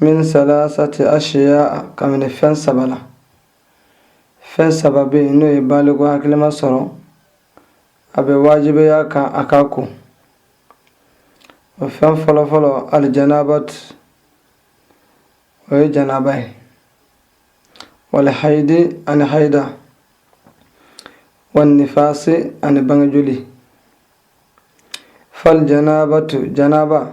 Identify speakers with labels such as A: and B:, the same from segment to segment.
A: min salasati ashiya kabini fɛn saba la fɛn saba bɛ yen n'o ye baliku hakilima sɔrɔ a bɛ wajibiya a kan a ka ko o fɛn fɔlɔfɔlɔ alijanabat o ye janaba ye walihayidi ani hayida wanifasi ani bangejoli fal janabatu janaba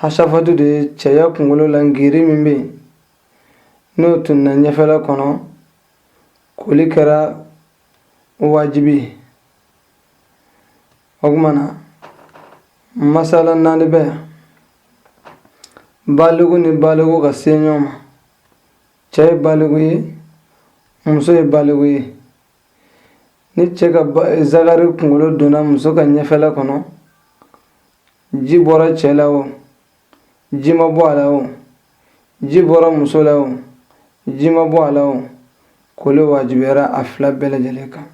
A: hasafatu de ye cɛya kunkolo la ngiri min bɛ yen n'o tununna ɲɛfɛla kɔnɔ koli kɛra wajibi ye o tuma na masala naani bɛ yan baliku ni baliku ka se ɲɔgɔn ma cɛ ye baliku ye muso ye baliku ye ni cɛ ka zagari kunkolo donna muso ka ɲɛfɛla kɔnɔ ji bɔra cɛ la o ji ma bɔ a la o ji bɔra muso la o ji ma bɔ a la o koli wajibiyara a fila bɛɛ lajɛlen kan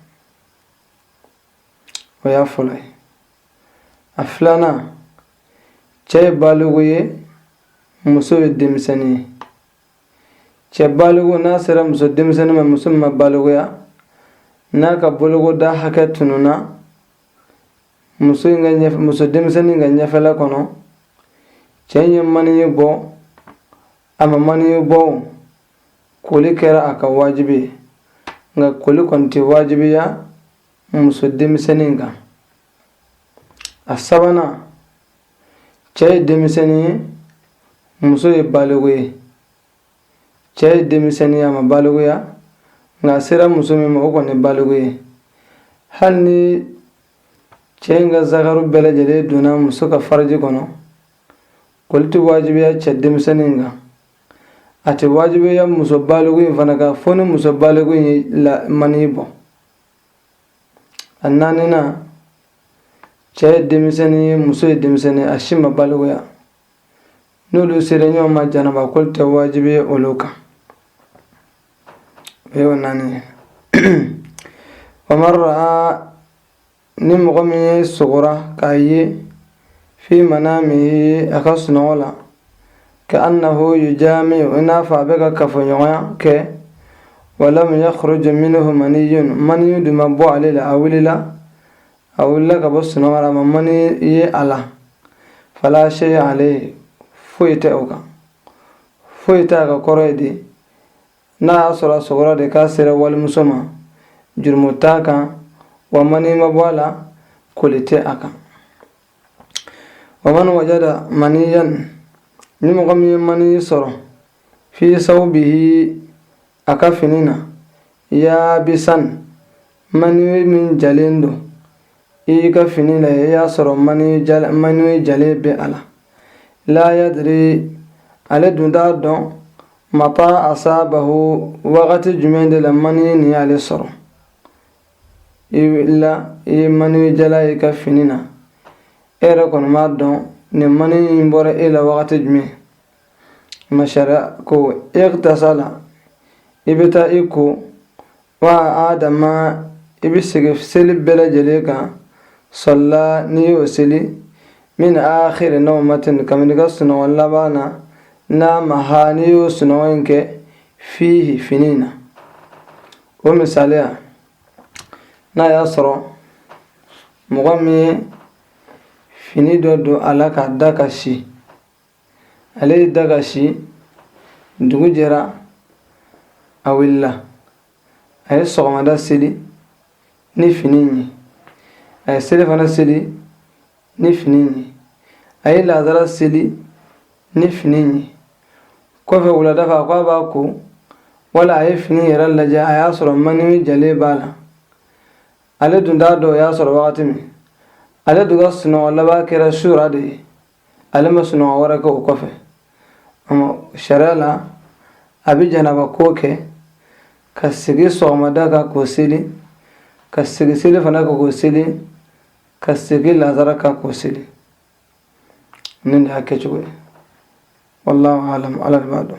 A: o y'a fɔlɔ ye a filanan cɛ ye baliku ye muso ye denmisɛnnin ye cɛ baliku n'a sera muso denmisɛnnin ma muso min ma balikuya n'a ka bolokoda hakɛ tununna muso in ka ɲɛf muso denmisɛnnin ka ɲɛfɛla kɔnɔ cɛ in ye maniyi bɔ a ma maniyi bɔ koli kɛra a ka wajibi ye nka koli kɔni tɛ wajibiya muso denmisɛnnin kan a sabanan cɛ ye denmisɛnnin ye muso ye baliku ye cɛ ye denmisɛnnin ye a ma balikuya nka a sera muso min ma o kɔni baliku ye hali ni cɛ in ka zakaru bɛɛ lajɛlen donna muso ka faraji kɔnɔ koli tɛ wajibiya cɛ denmisɛnnin kan a tɛ wajibiya muso baliku in fana kan fo ni muso baliku in ye mani bɔ a naaninan cɛ ye denmisɛnnin ye muso ye denmisɛnnin a si ma balikuya n'olu sera ɲɔgɔn ma janaba koli tɛ wajibiya olu kan o y'o naani ye waman ra'a ni mɔgɔ min sugora k'a ye fi manamihi a ka sunɔgɔ la ka annahu yujami'u i n'a fɔ a bɛ ka kafoɲɔgɔnya kɛ walam yakhruju minhu maniyun maniyu dun ma bɔ ale la a wulila a wulila ka bɔ sunɔgɔ la a ma mani ye a la fala sey alayhi foyi tɛ o kan foyi tɛ a kan kɔrɔ ye de n'a y'a sɔrɔ a sugora de k'a sera walimuso ma jurumu t'a kan wa mani ma bɔ a la koli tɛ a kan wa man wajada maniyan ni mɔgɔ min ye mani sɔrɔ fi sawbihi a ka fini na yaabisan mani min jalen don i y'i ka fini lajɛ i y'a sɔrɔ mani jalen bɛ a la la yadiri ale dun t'a dɔn mata asabahu wagati jumɛn de la mani nin y'ale sɔrɔ i wulila i ye mani jalan y'i ka fini na e yɛrɛ kɔni m'a dɔn nin mani in bɔra e la wagati jumɛn ma sariya ko igtasala i bɛ taa i ko wa a'ada ma i bɛ segin seli bɛɛ lajɛlen kan salla n'i y'o seli min akhiri nawmatin kabini i ka sunɔgɔ laban na naamaha n'i y'o sunɔgɔ in kɛ fihi fini na o misaliya n'a y'a sɔrɔ mɔgɔ min ye fini dɔ don a la k'a da ka si ale y'i da ka si dugu jɛra a wulila a ye sɔgɔmada seli ni fini ye a ye selifana seli ni fini ye a ye lazara seli ni fini ye kɔfɛ wulada fɛ a ko a b'a ko wala a ye fini yɛrɛ lajɛ a y'a sɔrɔ mani jalen b'a la ale dun t'a dɔn o y'a sɔrɔ wagati min ale dun ka sunɔgɔ laban kɛra sura de ye ale ma sunɔgɔ wɛrɛ kɛ o kɔfɛ sariya la a bɛ janaba ko kɛ ka segin sɔgɔmada kan k'o seli ka segin selifana kan k'o seli ka segin lazara kan k'o seli nin de y'a kɛcogo ye wallahu alam ala de b'a dɔn